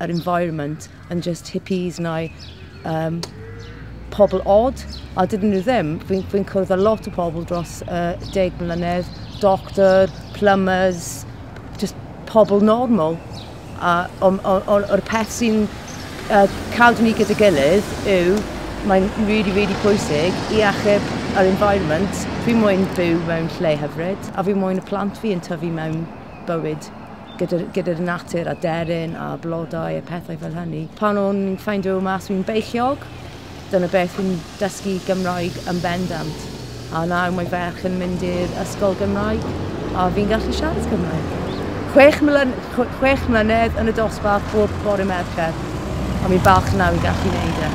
yr environment yn just hippies neu um, pobl odd, a dydyn nhw ddim. Fi'n fi cwrdd â lot o pobl dros uh, deg mlynedd, doctor, plumbers, just pobl normal. A o'r peth sy'n uh, cadw ni gyda gilydd yw, mae'n really, really pwysig i achub yr environment. Fi moyn byw mewn lle hyfryd, a fi moyn y plant fi yn tyfu mewn bywyd gyda, gyda'r natur a deryn a blodau a pethau fel hynny. Pan o'n i'n ffeindio mas fi'n beichiog, dyna beth fi'n dysgu Gymraeg yn bendant. A nawr mae ferch yn mynd i'r ysgol Gymraeg a fi'n gallu siarad Cymraeg. Chwech, mlyn, chwech mlynedd yn y dosbarth bob bore Mercher, ond fi'n falch nawr i gallu wneud e.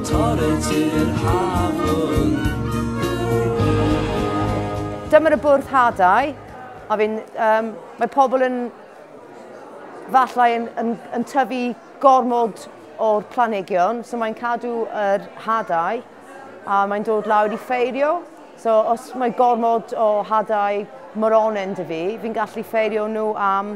Torri tir hafn. Dyma y bwrdd hadau, a fi'n, um, mae pobl yn falle yn, yn, yn tyfu gormod o'r planhigion, so mae'n cadw yr hadau a mae'n dod lawr i ffeirio. So os mae gormod o hadau moronen dy fi, fi'n gallu ffeirio nhw am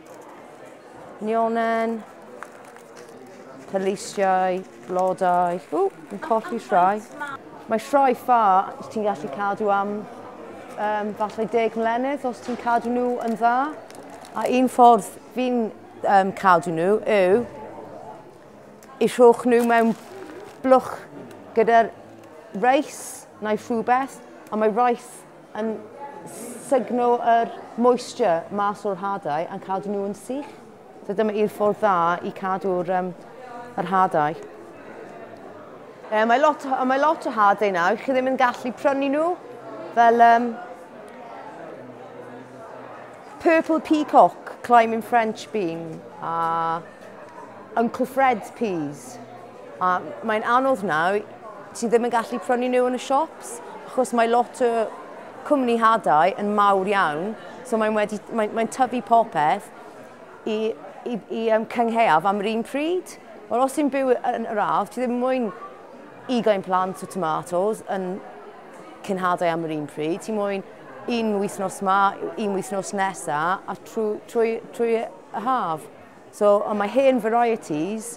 Nionen. Pelisiau, blodau. Ww, yn colli rhai. Mae rhai ffa ti'n gallu cadw am um, falle deg mlynedd os ti'n cadw nhw yn dda. A un ffordd fi'n um, cadw nhw yw i rhwch nhw mewn blwch gyda'r reis neu rhywbeth, a mae reis Yn sugno yr moisture mas o'r hadau a'n cadw nhw yn sych. So dyma i'r ffordd dda i cadw'r um, yr hadau. Um, mae, lot, mae lot o hadau nawr, chi ddim yn gallu prynu nhw fel um, Purple Peacock, Climbing French Bean a Uncle Fred's Peas. A mae'n anodd nawr, ti ddim yn gallu prynu nhw yn y siops, achos mae lot o cwmni hadau yn mawr iawn, so mae'n wedi, mae'n, mae'n tyfu popeth i, i, i um, cyngheuaf am yr un pryd. Wel, os ti'n byw yn yr ardd, ti ddim mwyn ugain plant o tomatos yn cynhadau am yr un pryd, ti mwyn un wythnos ma, un wythnos nesa, a trwy, trwy, trwy y haf. So, ond mae hen varieties,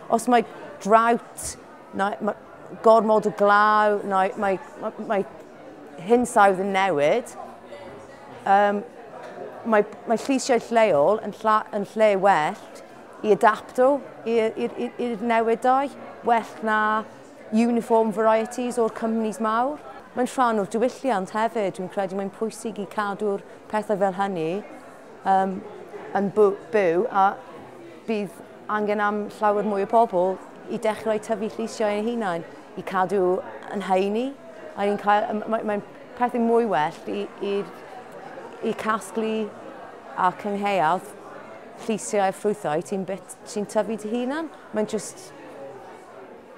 os mae drought, neu mae gormod o glaw, neu mae, mae, mae hinsawdd yn newid, um, mae, mae lleisiau lleol yn, lla, yn lle well i adapto i'r newidau, well na uniform varieties o'r cwmnis mawr. Mae'n rhan o'r diwylliant hefyd, dwi'n credu mae'n pwysig i cadw'r pethau fel hynny um, yn byw a bydd angen am llawer mwy o bobl i dechrau tyfu lleisiau ein hunain, i cadw yn heini. Mae'n mae, mae pethau mwy well i, i, i casglu a cyngheuad lleisiau a ffrwythau ti'n sy tyfu dy hunan. Mae'n just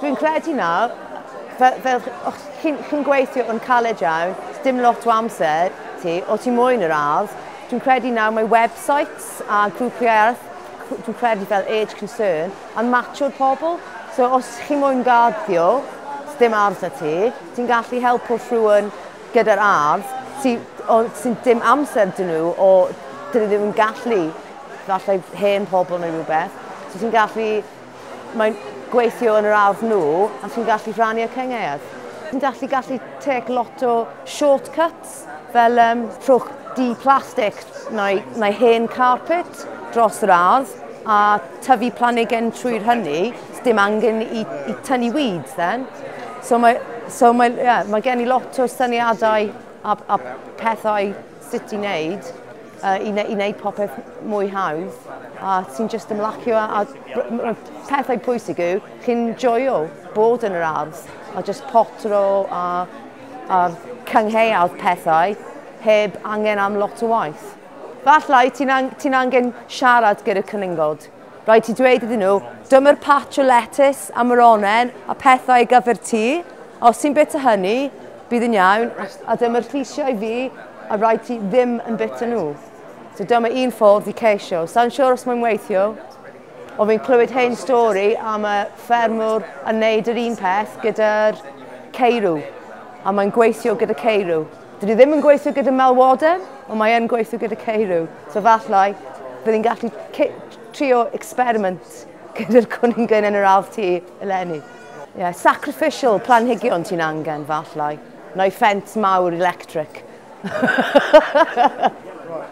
Dwi'n credu nawr, fel, fel o'ch chi'n chi gweithio yn caled iawn, dim lot o amser ti, o ti moyn yr ardd, dwi'n credu nawr mae websites a grwpiau arall, dwi'n credu fel Age Concern, yn matio'r pobl. So os chi moyn garddio, dim ardd da ti, ti'n gallu helpu rhywun gyda'r ardd sy'n sy dim amser dyn nhw o dyn nhw ddim yn gallu, falle hen pobl neu rhywbeth. So ti'n gallu Mae'n gweithio yn yr ardd nhw a chi'n gallu rhannu y cyngaead. Chi'n gallu gallu take lot o shortcuts fel um, rhowch di plastig neu, neu hen carpet dros yr ardd a tyfu planigyn trwy'r hynny, dim angen i, i tynnu weeds then. So mae, so mae, yeah, mae gen i lot o syniadau a, a pethau sut i wneud, uh, i, ne i wneud popeth mwy hawdd, a ti'n just ymlacio, a, a pethau pwysig yw, chi'n joio bod yn yr ardd, a just potro a, a cyngheuad pethau, heb angen am lot o waith. Falle ti'n an ti angen siarad gyda cyningod, Rhaid ti dweud iddyn nhw, dyma'r patch o letys a moronen a phethau ar gyfer ti, a os ti'n bita hynny, bydd yn iawn, a dyma'r lleisiau i fi, a rhaid ti ddim yn bita nhw. So dyma un ffordd i ceisio. Sa'n siŵr os mae'n weithio, ond fi'n clywed hen stori am y ffermwr yn neud yr un peth gyda'r ceirw, a mae'n gweithio gyda ceirw. Dydw i ddim yn gweithio gyda malwodau, ond mae yn gweithio gyda ceirw. So fathau, bydd i'n gallu trio experiment gyda'r cwningen yn yr ardd ti eleni. Yeah, sacrificial planhigion ti'n angen, fathau. Neu ffens mawr electric.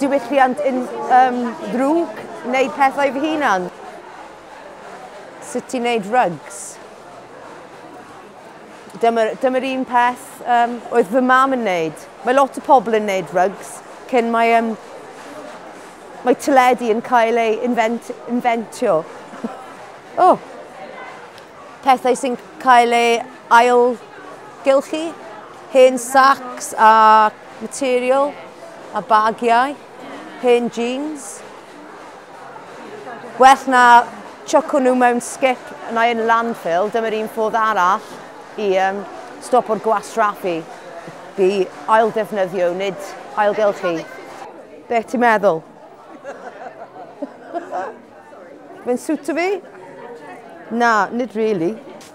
diwylliant yn um, ddrwg, wneud pethau fy hunan. Sut ti'n wneud rugs? Dyma'r dyma un peth um, oedd fy mam yn wneud. Mae lot o pobl yn wneud rugs cyn mae, um, mae teledu yn cael ei invent, inventio. oh. Pethau sy'n cael ei ail gylchu, hen sacs a Material, a bagiau, hen jeans. Gwell na chuco nhw mewn skip neu yn landfill, dyma'r un ffordd arall i um, stopo'r gwastraffu, bu ailddefnyddio, nid ailgylchu. Beth ti'n meddwl? Mae'n siwtio fi? Na, nid really.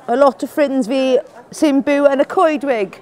A lot o ffrinds fi sy'n byw yn y coedwig.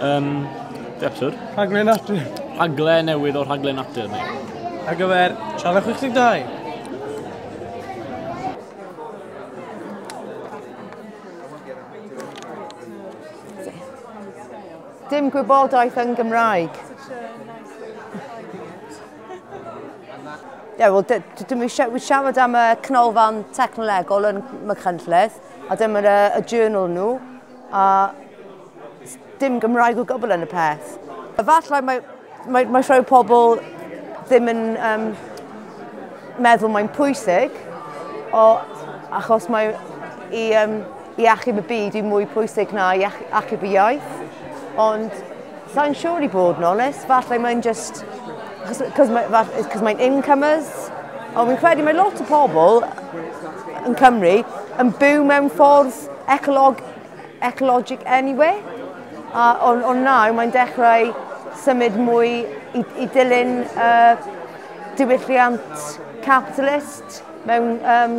Um, Be episode? Rhaglen natur. Rhaglen newydd o rhaglen natur ni. Ar gyfer Siarad 62. Dim gwybodaeth yn Gymraeg. Ie, wel, dwi wedi siarad am y canolfan technolegol yn Machynlleth, a dyma y journal nhw. a dim Gymraeg o gwbl yn y peth. Efallai mae, mae, mae rhai pobl ddim yn um, meddwl mae'n pwysig, o, achos mae i, um, i achub y byd i mwy pwysig na i achub y iaith. Ond Sain siŵr i bod yn onest, falle mae'n just, cos mae'n incomers, ond fi'n credu mae lot o pobl yn Cymru yn byw mewn ffordd ecolog, ecologic anyway. A ond on nawr mae'n dechrau symud mwy i, i dilyn uh, diwylliant capitalist mewn um,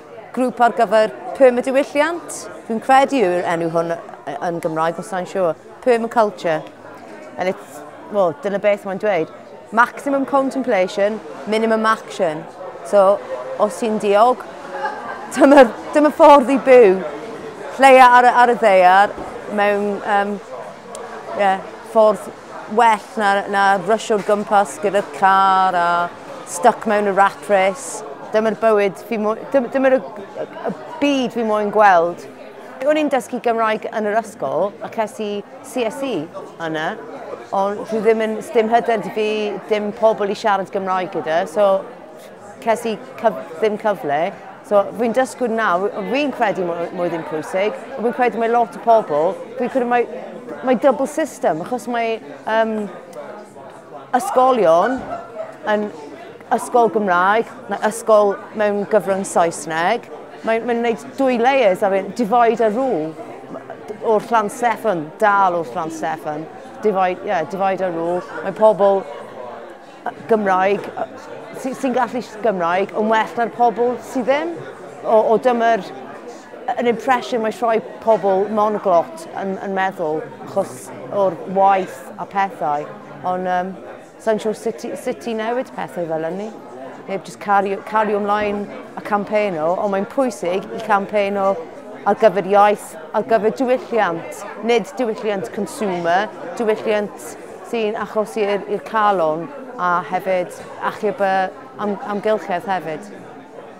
grŵp ar gyfer pum y diwylliant. Dwi'n credu yw'r enw hwn yn Gymraeg, os sa'n siŵr. Pum y culture. And it's, well, dyna beth mae'n dweud. Maximum contemplation, minimum action. So, os ti'n diog, dyma, dyma ffordd i byw. Lleia ar, ar y ddeiar mewn um, yeah, ffordd well na, na rysio'r gwmpas gyda'r car a stuck mewn y rat race. Dyma'r bywyd fi mo... Dyma'r y, y byd fi moyn gweld. O'n i'n dysgu Gymraeg yn yr ysgol a ces i CSE yna, ond dwi ddim yn, ddim hyder dy fi, dim pobl i siarad Gymraeg gyda, so ces i cyf, ddim cyfle. So fi'n dysgu nawr, fi'n credu mwy, mwy ddim pwysig, ond fi'n credu mae lot o pobl, fi'n credu mae, mae double system, achos mae um, ysgolion yn ysgol Gymraeg, mae ysgol mewn gyfrwng Saesneg. Mae'n mae wneud dwy layers ar un, divide a rule o'r llan Steffan, dal o'r llan Steffan. Divide, yeah, divide a rule. Mae pobl Gymraeg sy'n sy gallu Gymraeg yn well na'r pobl sydd ddim. O, o dyma'r Yr impression mae rhoi pobl monoglot yn, yn meddwl, achos o'r waith a pethau, ond um, sa'n siŵr sut, sut i newid pethau fel hynny. Neu just cario, cario ymlaen a campaign o, ond mae'n pwysig i campaign o ar gyfer iaith, ar gyfer diwylliant, nid diwylliant consumer, diwylliant sy'n achos i'r calon a hefyd achub y am, amgylchedd hefyd.